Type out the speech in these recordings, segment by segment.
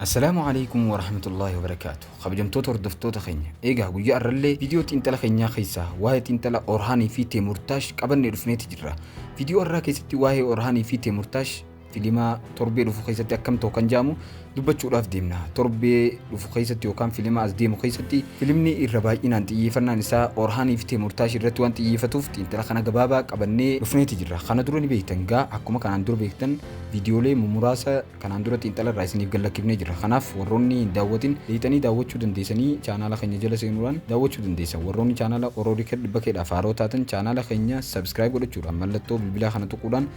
Assalaamu Aleykum Warahmatullaahi Wabarakaatuh Kabajamtoota hordoftoota keenya eegaa guyyaa har'allee viidiyoo xiinxala keenyaa keessaa waa'ee xiinxala Orhaanii fi Teemurtaash qabannee dhufneeti jirra. Viidiyoo har'aa keessatti waa'ee Orhaanii fi Teemurtaash filimaa torbee dhufu keessatti akkam ta'u kan jaamu dubbachuudhaaf deemna. Torbee dhufu keessatti yookaan filima as deemu keessatti filimni irra baay'inaan xiyyeeffannaan isaa Orhaanii fi Teemurtaash irratti waan xiyyeeffatuuf xiinxala kana gabaabaa qabannee dhufneeti jirra. Kana dura ni beektan gaa akkuma kanaan dura beektan viidiyoolee mumuraasa Kanaan dura xiinxala irraa isiniif gallakkifnee jirra. Kanaaf warroonni hin daawwatin lixanii daawwachuu dandeessanii chaanaala keenya jala seenuudhaan daawwachuu dandeessan. Warroonni chaanaala Ororikerd Bakeedhaaf haarawa taatan chaanaala keenya subscribe godhachuudhaan mallattoo bilbilaa kana tuquudhaan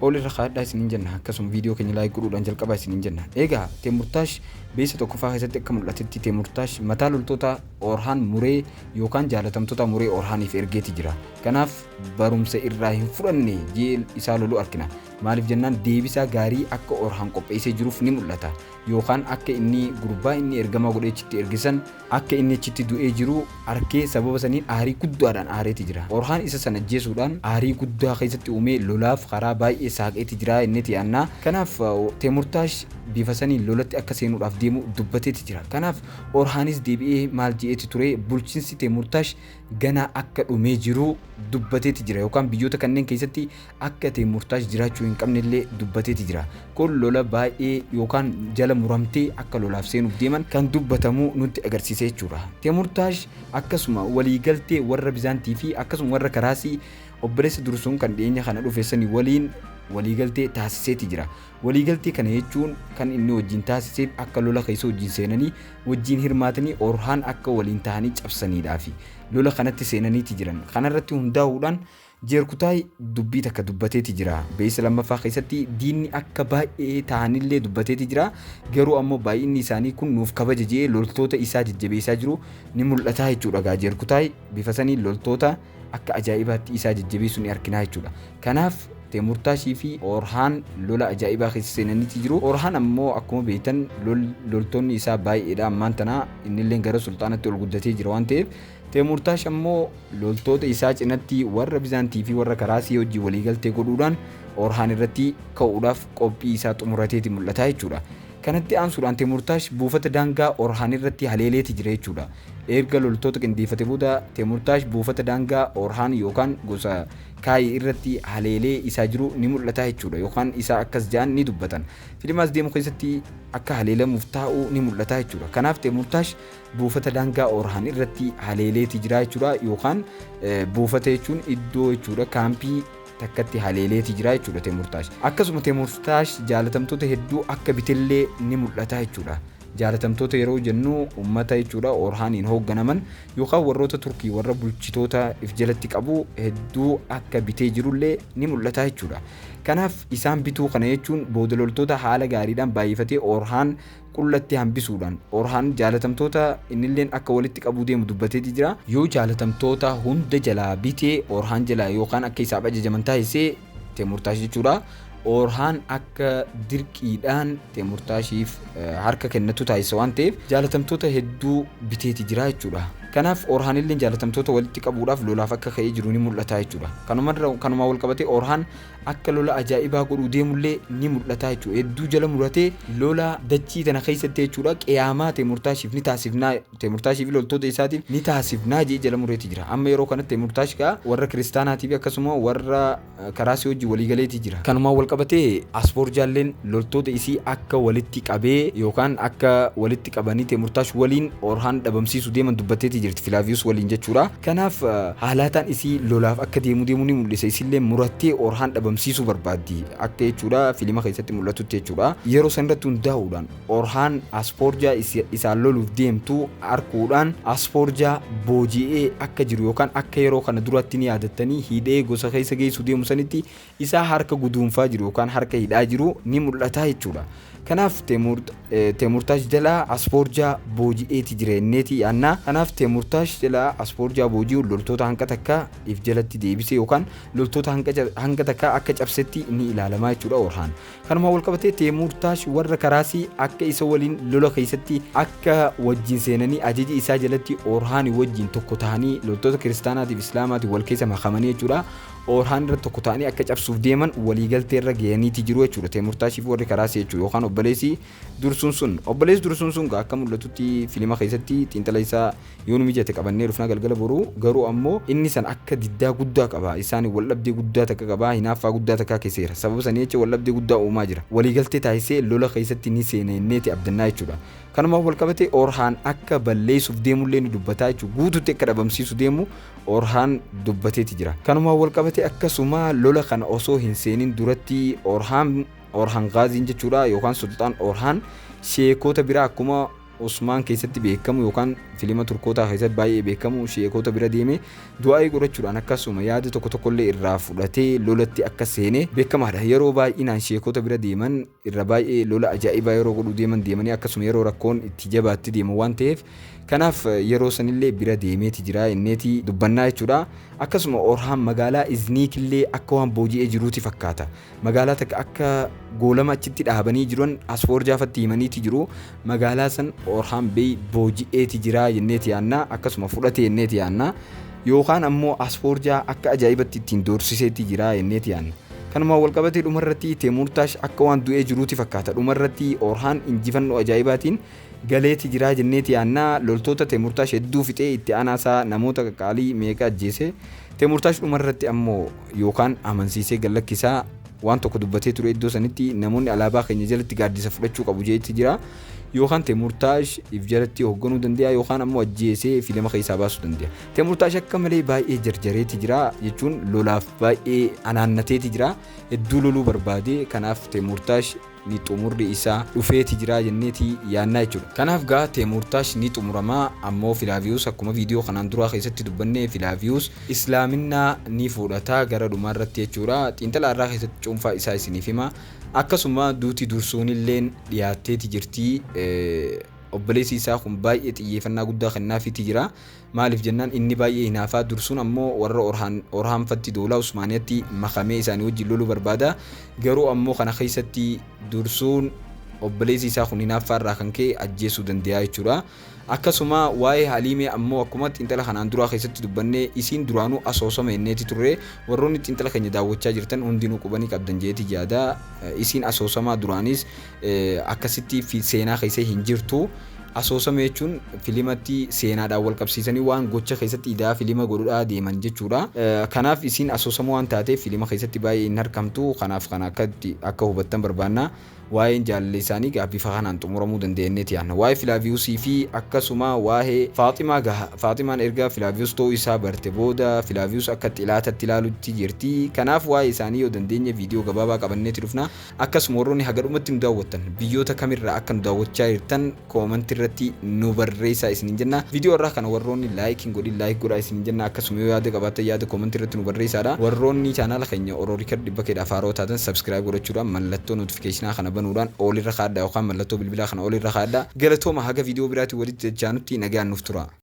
All irra kaa'adhaa isiniin jenna. Akkasuma viidiyoo keenya like godhuudhaan jalqabaa isiniin jenna. Eegaa Teemurtaash beessa tokkoffaa keessatti akka mul'atetti Teemurtaash mataa loltoota Orhaan muree yookaan jaalatamtoota muree Orhaaniif ergeeti jira. Kanaaf barumsa irraa hin fudhanne jeel isaa lolu arkina. Maaliif jennaan deebisaa gaarii akka Orhaan qopheessee jiruuf ni mul'ata. Yookaan akka inni gurbaa inni ergamaa godhee achitti erge san akka inni achitti du'ee jiru arkee sababa saniin aarii guddaadhaan aareeti jira. Orhaan isa san ajjeesuudhaan aarii guddaa keessatti uumee lolaaf karaa baay'ee saaqeeti jira jenneeti yaanna. Kanaaf Teemurtaash bifa saniin lolatti akka seenuudhaaf deemu dubbateeti jira. Kanaaf Orhaanis deebi'ee maal je'eeti ture bulchinsi Teemurtaash ganaa akka dhumee jiru dubbateeti jira yookaan biyyoota kanneen keessatti akka itti murtaa'es jiraachuu hin qabne illee dubbateeti jira. Kun lola baay'ee yookaan jala muramtee akka lolaaf seenuuf deeman kan dubbatamu nutti agarsiisa jechuudha. Temurtaash akkasuma waliigaltee warra Bizaantii fi akkasuma warra Karaasii obboleessa dursuun kan dhiyeenya kana dhufe sani waliin waliigaltee taasiseeti jira. Waliigaltee kana jechuun kan inni wajjin taasiseef akka lola keessa wajjin seenanii wajjin hirmaatanii Orhaan akka waliin tahanii cabsaniidhaafi lola kanatti seenaniiti jiran. Kanarratti hundaa'uudhaan Jeerkutaay dubbii takka dubbateeti jira. Beeysa lammaffaa keessatti diinni akka baay'ee tahanillee dubbateeti jira. Garuu ammoo baay'inni isaanii kun nuuf kabaja je'ee loltoota isaa jajjabeeysaa jiru ni mul'ataa jechuudha gaa Jeerkutaay bifa saniin loltoota akka ajaa'ibaatti isaa jajjabeeysu ni arkinaa jechuudha. Kanaaf Teemurtaashii fi Oorhaan lola ajaa'ibaa keessa seenaniiti jiru. Oorhaan ammoo akkuma beeytan loltoonni isaa baay'eedha ammaan tana innilleen gara sulxaanatti ol guddatee jira waan ta'eef Teemurtaash ammoo loltoota isaa cinatti warra Bizaantii fi warra Karaasii wajjin waliigaltee godhuudhaan Orhaan irratti ka'uudhaaf qophii isaa xumurateeti mul'ata jechuudha. Kanatti aansuudhaan Teemurtaash buufata daangaa Orhaan irratti haleeleeti jira jechuudha. Erga loltoota qindeeffate booda Teemurtaash buufata daangaa Orhaan yookaan gosa Kaayi irratti haleelee isaa jiru ni mul'ata jechuudha yookaan isaa akkas ja'an ni dubbatan. Filimaas deemu keessatti akka haleelamuuf taa'u ni mul'ata jechuudha. Kanaaf Teemurtaash buufata daangaa Orhaan irratti haleeleeti jira jechuudha yookaan buufata jechuun iddoo jechuudha kaampii takkatti haleeleeti jira jechuudha Teemurtaash. Akkasuma Teemurtaash jaalatamtoota hedduu akka bitellee ni mul'ata jechuudha. Jaalatamtoota yeroo jennu uummata jechuudha Orhaaniin hoogganaman yookaan warroota Turkii warra bulchitoota if jalatti qabu hedduu akka bitee jirullee ni mul'ata jechuudha. Kanaaf isaan bituu kana jechuun booda loltoota haala gaariidhaan baay'ifatee Orhaan qullatti hambisuudhaan Orhaan jaalatamtoota innilleen akka walitti qabuu deemu dubbateeti jira. Yoo jaalatamtoota hunda jalaa bite Orhaan jalaa yookaan akka isaaf ajajaman taasise Teemurtaash jechuudha. Orhaan akka dirqiidhaan Teemurtaashiif harka kennatu taasisa waan ta'eef jaalatamtoota hedduu biteeti jira jechuudha. Kanaaf Orhaanilleen jaalatamtoota walitti qabuudhaaf lolaaf akka ka'ee jiru ni mul'ata jechuudha. Kanumarra kanumaan wal qabatee Orhaan akka lola ajaa'ibaa godhuu deemullee ni mul'ataa jechuudha. Hedduu jala muratee lola dachii tana keessatti jechuudha qiyaamaa Teemurtaashiif ni taasifnaa Teemurtaashii fi loltoota isaatiif ni taasifnaa jee jala mureeti jira. Amma yeroo kanatti Teemurtaash gaa warra kiristaanaatii fi akkasuma warra karaasii wajjin waliigaleeti jira. Kanumaan walqabatee Asfoorjaalleen loltoota isii akka walitti qabee yookaan akka walitti itti qabanii Teemurtaash waliin Oorhaan dhabamsiisu deeman dubbatteetii jirti Filaaviyus waliin jechuudha. Kanaaf haalaataan isii lolaaf akka deemuu deemuu ni mul'isa isiillee murattee Oorhaan dhabamsiisuu barbaaddi akka jechuudha filima keessatti mul'atutti jechuudha. Yeroo san irratti hundaa'uudhaan Oorhaan Asfoorjaa isaan loluuf deemtu arkuudhaan Asfoorjaa booji'ee akka jiru yookaan akka yeroo kana duraatti ni yaadattanii hidhee gosa keessa geessu deemu sanitti isaa harka guduunfaa jiru yookaan harka hidhaa jiru ni mul'ata jechuudha. Kanaaf Teemurtaash jalaa Asfoorjaa booji'eeti jira jenneeti yaanna. Kanaaf Teemurtaash jalaa Asfoorjaa booji'uun loltoota hanga takka if jalatti deebise yookaan loltoota hanga takka akka cabsetti ni ilaalama jechuudha Orhaan. Kanumaan walqabatee Teemurtaash warra karaasii akka isa waliin lola keessatti akka wajjin seenanii ajaja isaa jalatti Orhaani wajjin tokko tahanii loltoota kiristaanaatiif islaamaatiin wal keessa makamanii jechuudha. Orhaan irratti tokko ta'anii akka cabsuuf deeman waliigaltee irra gayaniiti jiru jechuudha Teemurtaashii fi warri karaa seechuu yookaan obboleessi dursuun sun. Obboleessi dursuun sun gaa akka mul'atutti filima keessatti xiinxala isaa yoo nu mijate qabannee dhufna galgala boru garuu ammoo inni san akka diddaa guddaa qaba isaan waldhabdee guddaa takka qaba hinaaffaa guddaa takkaa keessa jira sababa sanii jecha waldhabdee guddaa uumaa jira waliigaltee taasisee lola keessatti ni seena jenneeti abdannaa jechuudha. Kanumaan walqabate Orhaan akka balleessuuf deemullee ni dubbataa jechuudha guututti akka dhabamsiisu deemu Orhaan dubbateeti jira. Kanumaan walqabatee akkasuma lola kana osoo hin seenin duratti Orhaan, Orhan Gaaziin jechuudha yookaan Sulxaan Orhaan sheekoota biraa akkuma Usmaan keessatti beekamu yookaan filima Turkootaa keessatti baay'ee beekamu sheekoota bira deemee du'aa'ii godhachuudhaan akkasuma yaada tokko tokkollee irraa fudhatee lolatti akka seene beekamaadha. Yeroo baay'inaan sheekoota bira deeman irra baay'ee lola ajaa'ibaa yeroo godhuu deeman deemanii akkasuma yeroo rakkoon itti jabaatte deeman waan ta'eef kanaaf yeroo sanillee bira deemeeti jira inneeti dubbannaa jechuudha. Akkasuma Orhaan magaalaa Izniitillee akka waan booji'ee jiruuti fakkaata. Magaalaa takka akka goolama achitti dhaabanii jiran Asfoorjaafatti himaniiti jiru. Magaalaa san Orhaan Bey booji'eeti jiraa jenneeti yaanna, akkasuma fudhate jenneeti yaanna. Yookaan ammoo Asfoorjaa akka ajaa'ibatti ittiin doorsiseeti jiraa jenneeti yaanna. Kanumaan walqabatee dhumarratti Teemuurtaash akka waan du'ee jiruuti fakkaata. Dhumarratti Orhaan injifannoo ajaa'ibaatiin galeeti jiraa jenneeti yaanna. Loltoota Teemuurtaash hedduu fixee itti aanaa isaa namoota qaqqaalii meeqa ajjeese. Teemuurtaash dhumarratti ammoo yookaan amansiisee gad lakkisaa. waan tokko dubbatee ture iddoo sanitti namoonni alaabaa keenya jalatti gaaddisa fudhachuu qabu jeetti jira yookaan Temurtaash if jalatti hoogganuu danda'a yookaan ammoo ajjeesee fi lama keessaa baasuu danda'a. Temurtaash akka malee baay'ee jarjareeti jira jechuun lolaaf baay'ee anaannateeti jira hedduu loluu barbaade kanaaf Temurtaash ni xumurri isaa dhufeeti jiraa jenneeti yaannaa jechuudha. Kanaaf gaa Teemuurtaash ni xumurama ammoo Filaaviyuus akkuma viidiyoo kanaan duraa keessatti dubbanne Filaaviyuus Islaaminaa ni fuudhata gara dhumaa irratti jechuudha. Xiinxala har'aa keessatti cuunfaa isaa isiniif hima. Akkasuma duuti dursuunilleen dhiyaatteeti jirti. Obboleessi isaa kun baay'ee xiyyeeffannaa guddaa kennaafiiti jira. Maaliif jennaan inni baay'ee hinaafaa dursuun ammoo warra Orhaan Orhaan fatti doolaa Usmaaniyatti makamee isaanii wajjin loluu barbaada. Garuu ammoo kana keessatti dursuun obboleessi isaa kun hinaaffaa irraa kan ka'e ajjeesuu dandayaa jechuudha. Akkasuma waa'ee Haliimee ammoo akkuma xiinxala kanaan duraa keessatti dubbanne isiin duraanuu asoosama jenneeti turre. Warroonni xiinxala keenya daawwachaa jirtan hundinuu quba ni qabdan jedheeti yaada. Isiin asoosamaa duraanis akkasitti fi seenaa keessa hin jirtu. Asoosama jechuun filimatti seenaadhaan wal qabsiisanii waan gocha keessatti idaa filima godhudhaa deeman jechuudha. Kanaaf isiin asoosama waan taateef filima keessatti baay'ee hin harkamtu. Kanaaf kana akkatti akka hubattan barbaanna. Waa'een jaalala isaanii gaa bifa kanaan xumuramuu danda'a jennee tiyaanna. Waa'ee Filaaviyuusii fi akkasuma waa'ee Faaximaa gaha. Faaximaan erga Filaaviyuus ta'uu isaa barte booda Filaaviyuus akka xilaatatti ilaalutti jirti. Kanaaf waa'ee isaanii yoo dandeenye viidiyoo gabaabaa qabanneeti dhufna. Akkasuma warroonni haga dhumatti nu daawwattan biyyoota kamirraa akka nu daawwachaa jirtan koomantii irratti nu barreessaa isiniin jenna. Viidiyoo har'aa kana warroonni like hin godhin like godhaa isiniin jenna. Akkasuma yoo yaada qabaattan yaada koomantii irratti nu barreessaadha. Warroonni chaanaala keenya Oro Record 100kdhaaf haarawa taatan subscribe godhachuudhaan mallattoo notification kana banuudhaan all irra kaa'adhaa yookaan mallattoo bilbilaa kana all irra kaa'adhaa. Galatoomaa haga viidiyoo biraatiin walitti dachaanutti nagaan nuuf turaa.